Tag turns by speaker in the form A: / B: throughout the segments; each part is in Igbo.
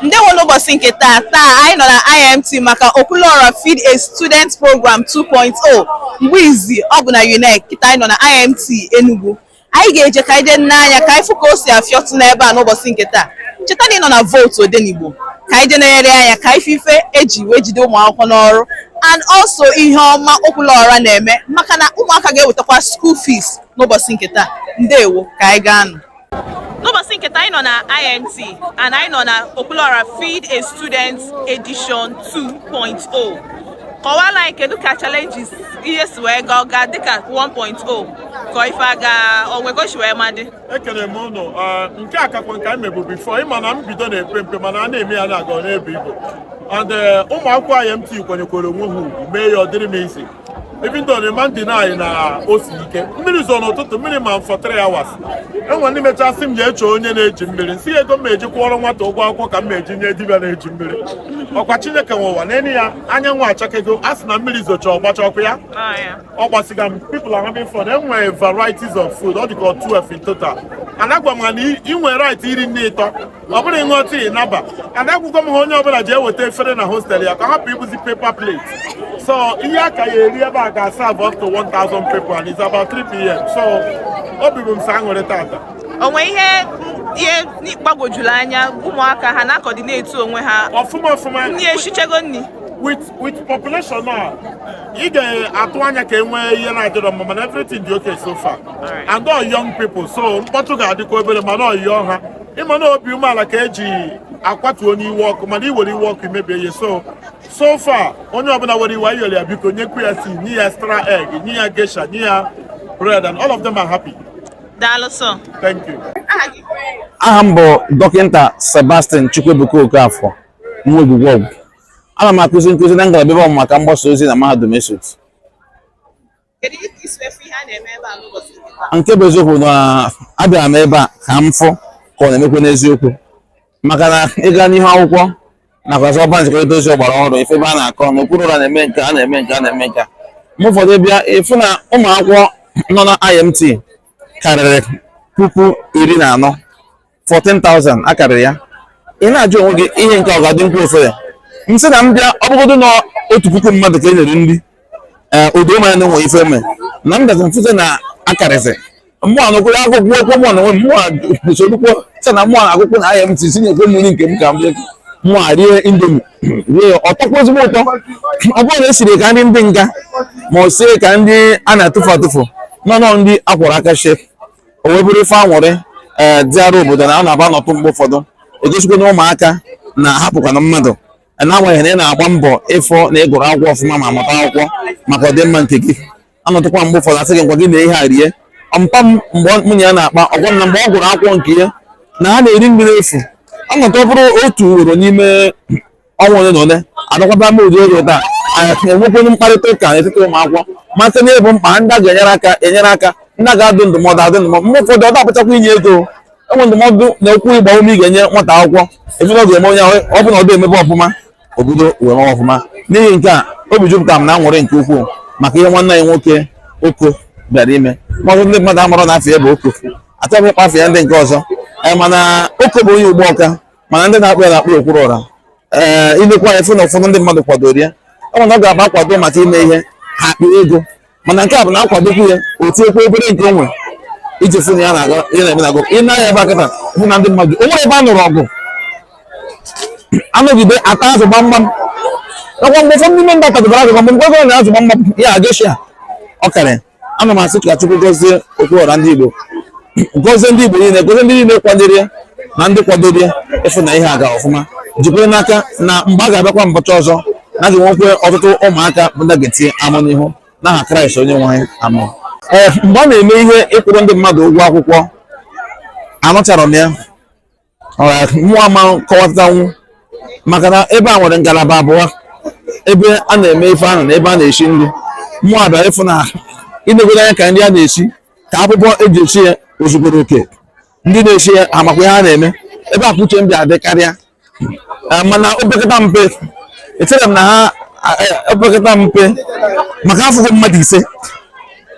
A: ndewo n'ụbọchị nke taa taa anyị nọ na IMT maka Okwuluora Feed a Student Program 2.0 mgbe izi ọ bụ na UNEC kịta anyị nọ na IMT Enugu anyị ga-eje ka anyị jee nee anya ka anyị fụ ka o si afịọtụ n'ebe a n'ụbọchị nke taa cheta na ị nọ na vootu Odenigbo ka anyị jee negharịa anya ka anyị fụ ife eji wee jide ụmụ akwụkwọ n'ọrụ and also ihe ọma Okwuluora na-eme maka na ụmụaka ga-ewetakwa school fees n'ụbọchị nke taa ndewo ka anyị gaa nụ n'ụbọchị nke taa anyị nọ na IMT and anyị nọ na Okwuluora Feed a Student Edition 2.0 kọwara anyị kedu ka challenges ihe si wee gaa ọga dịka 1.0 ka ife aga onwegochi wee madị ekele m
B: ụnụ nke a kakwa nke anyị mebu before ịma na mbido na-epe mpe mana a na-eme ya na-aga na-ebu ibu and eh, ụmụ akwụkwọ IMT kwanyekwara onwe ha ugwu mee ya ọ dịrị m easy even though ị ma ndị anyị na o siri ike mmiri zoro n'ụtụtụ mmiri ma for three hours enwe ndị mecha sị m je chọọ onye na-eji mmiri m sị ego m eji kwụọrọ nwata ụgwọ akwụkwọ ka m eji nye dibịa na-eji mmiri ọkwa chineke nwe ụwa nene ya anyanwụ achakego a sị na mmiri zocha ọ gbachakwaa ọ gbasịgo people are having fun enwere varieties of food ọ dịka 12 in total and agwa m ha na ị nwere right iri nri ịtọ ọ bụrụ ịṅụọ tii naba and agwago m ha onye ọbụla ji eweta efere na hostel ya ka a hapụ ibuzi paper plate so ihe a ka ya-eri ebe a ga-serve up to 1000 people and it's about 3 pm so obi bụ m sọ aṅụrị tata onweghị
A: ihe gbagwojuru anya ụmụaka ha na-akọdineti onwe ha ọfụma ọfụma
B: nri eshichago
A: nri with
B: with population a ị ga-atụ anya ka e nwee ihe na-adịrọ mma mana everything dị okay so far and all young people so mkpọtụ ga-adịkwa obere mana ị yọọ ha ịma na obi umeala ka eji akwatu onye iwe ọkụ mana iwere iwe ọkụ imebie ihe so so far onye ọbụla were iwe ayọrọ ya biko nyekwu ya tii nye ya extra egg nye ya gesha nye ya bread and all of them are happy daalụ
A: sọ thank
B: you
C: aha m bụ dọkịta sebastian chukwuebuka okafọ nwa ogwugwe ọgwụ ana m akụzi nkụzi na ngalaba ebe ọmụmụ maka mgbasa ozi na mahadum esut nke bụ eziokwu na abịara m ebe a ka m fụ ka ọ na-emekwa n'eziokwu maka na ịga n'ihu akwụkwọ nakwa ọba nzikọrịta ozi ọgbara ọhụrụ ịfụ ebe a na-akọ na Okwuluora na-eme nke a na-eme nke a na-eme nke a mgbe ụfọdụ bịa ịfụ na ụmụ akwụkwọ nọ na IMT karịrị puku iri na anọ 14,000 akarịrị ya ị na-ajụ onwe gị ihe nke a ga-adịkwa ofere m sị na m bịa ọ bụgodu na otu puku mmadụ ka e nyere nri ee o doo m anya na enwe ife eme na m bịazi m fụta na akarịsị mmụọ nụkwụrụ akwụkwọ okwu mụwa na onwe m mụwa sorokwa sị na mụwa na-agụ akwụkwọ na IMT sị nyekwa m nri nke m ka m bịa mụwa rie indomie rie ya ọ tọkwa ezigbo ụtọ ọ bụrọ na esiri ka nri ndị nga ma ọ sie ka nri a na-atụfu atụfu no no nri akwọrọ aka shie o wee bụrụ ife anwụrị ee dịara obodo na a na-aba anọtụ mgbe ụfọdụ egosikwa na ụmụaka na-ahapụkwana mmadụ n'agbanyeghị na ị na-agba mbọ ịfụ na ị gụrụ akwụkwọ ọfụma ma mụta akwụkwọ maka ọdịmma nke gị anọtụkwa mgbe ụfọdụ asị gị ngwa gị na ihe a rie mpa m mgbe mụ na ya na-akpa ọ gwa m na mgbe ọ gụrụ akwụkwọ nke ya na ha na-eri nri efu anọtụ ọ bụrụ otu ugboro n'ime ọnwa ole na ole adakwaba m ụdị oge taa anyị enwekwuru mkparịta ụka n'etiti ụmụ akwụkwọ masị na ịbụ mkpa ndị a ga-enyere aka enyere aka ndị a ga-adụ ndụmọdụ adụ ndụmọdụ mgbe ụfọdụ ọ da-abụchakwa inye ego e nwee ndụmọdụ na okwu ịgba ume ị ga-enye nwata akwụkwọ ị fụ na ọ ga-eme onye ọ bụla ọ dị emebe ọfụma obodo wee mewe ọfụma n'ihi nke a obi jupụtara m na anwụrị nke ukwuu maka ihe nwanne anyị nwoke Oko bịara ime ma ọtụtụ ndị mmadụ amarọ na afa ya bụ Oko achọghị ịkpọ afa ya ndị nke ọzọ eh, mana Oko bụ onye Ugbawka mana ndị na-akpọ ya na-akpọ Okwuluora ee eh, ilekwa ya fụ na ụfọdụ ndị mmadụ kwadoro ya ọ na ọ ga-aba akwado maka ime ihe ha akpị ego mana nke a bụ na akwadokwu ya o tinyekwa obere nke onwe iji fụ na ya na-aga ihe na-eme na-agụ i nee anya ebe a kịta fụ na ndị mmadụ o nwere ebe a nụrụ ọgụ anọgide ata azụ gbamgbam ọkwa mgbe ụfọdụ ndị mba tadobara azụ gbamgbam mgbe ọ na azụ gbamgbam ya Geisha ọ karịa ana m asị ka Chukwu gọzie Okwuora ndị Igbo gọzie ndị Igbo niile gọzie ndị niile kwadoro ya na ndị kwadoro ya ịfụ na ihe aga ọfụma jikwara n'aka na mgbe a ga-abịakwa mbọchị ọzọ na a ga-enwekwe ọtụtụ ụmụaka bụ ndị ga-etinye amụ n'ihu n'aha Kraịst onye nwe anyị amen ee mgbe a na-eme ihe ịkwụrụ ndị mmadụ ụgwọ akwụkwọ amacharọ m ya mụwa ama akọwatanwu maka na ebe a nwere ngalaba abụọ ebe a na-eme ife ahụ na ebe a na-esi nri mụ abịa ị fụ na i negodo anya ka nri a na-esi ka akwụkwọ eji esi ya ozugoro oke ndị na-esi ya amakwa ihe a na-eme ebe a ka uche m bịa dị karịa eh, mana opekata mpe echere m na ha opekata eh, mpe maka afụgo m mmadụ ise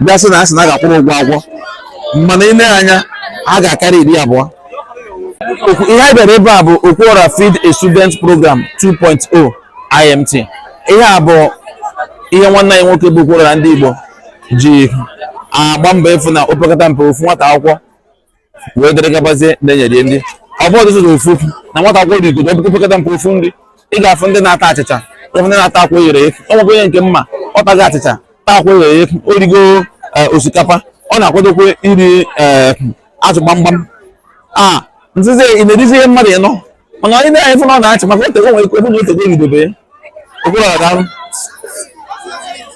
C: bịa sị na a sị na a ga-akwụrụ ụgwọ akwụkwọ mana i nee anya ha ga-akarị iri abụọ Okwu- ihe anyị bịara ebe a bụ Okwuora Feed a Student Program 2.0 IMT ihe a bụ ihe nwanne anyị nwoke bụ Okwuora ndị Igbo ji agba mbọ ịfụ na opekata mpe ofu nwata akwụkwọ wee dịrị gabazie na-enyere ndị ọ bụ ọdụzụ ofu okwu na nwata akwụkwọ rigodo ọ bụkwa opekata mpe ofu nri ị ga-afụ ndị na-ata achịcha ị fụ ndị na-ata akwa eghere eghe o nwekwa onye nke m ma ọ tachaa achịcha taa akwa eghere eghe o rigo eh, osikapa ọ na-akwadokwa iri eh, azụ gbamgbam a m sịzị ị na-erizi ihe mmadụ ịnọ mana i nee anya ị fụ na ọ na-achị maka ote onwe ekwe bụ na o tego o ridobe ya Okwuluora daalụ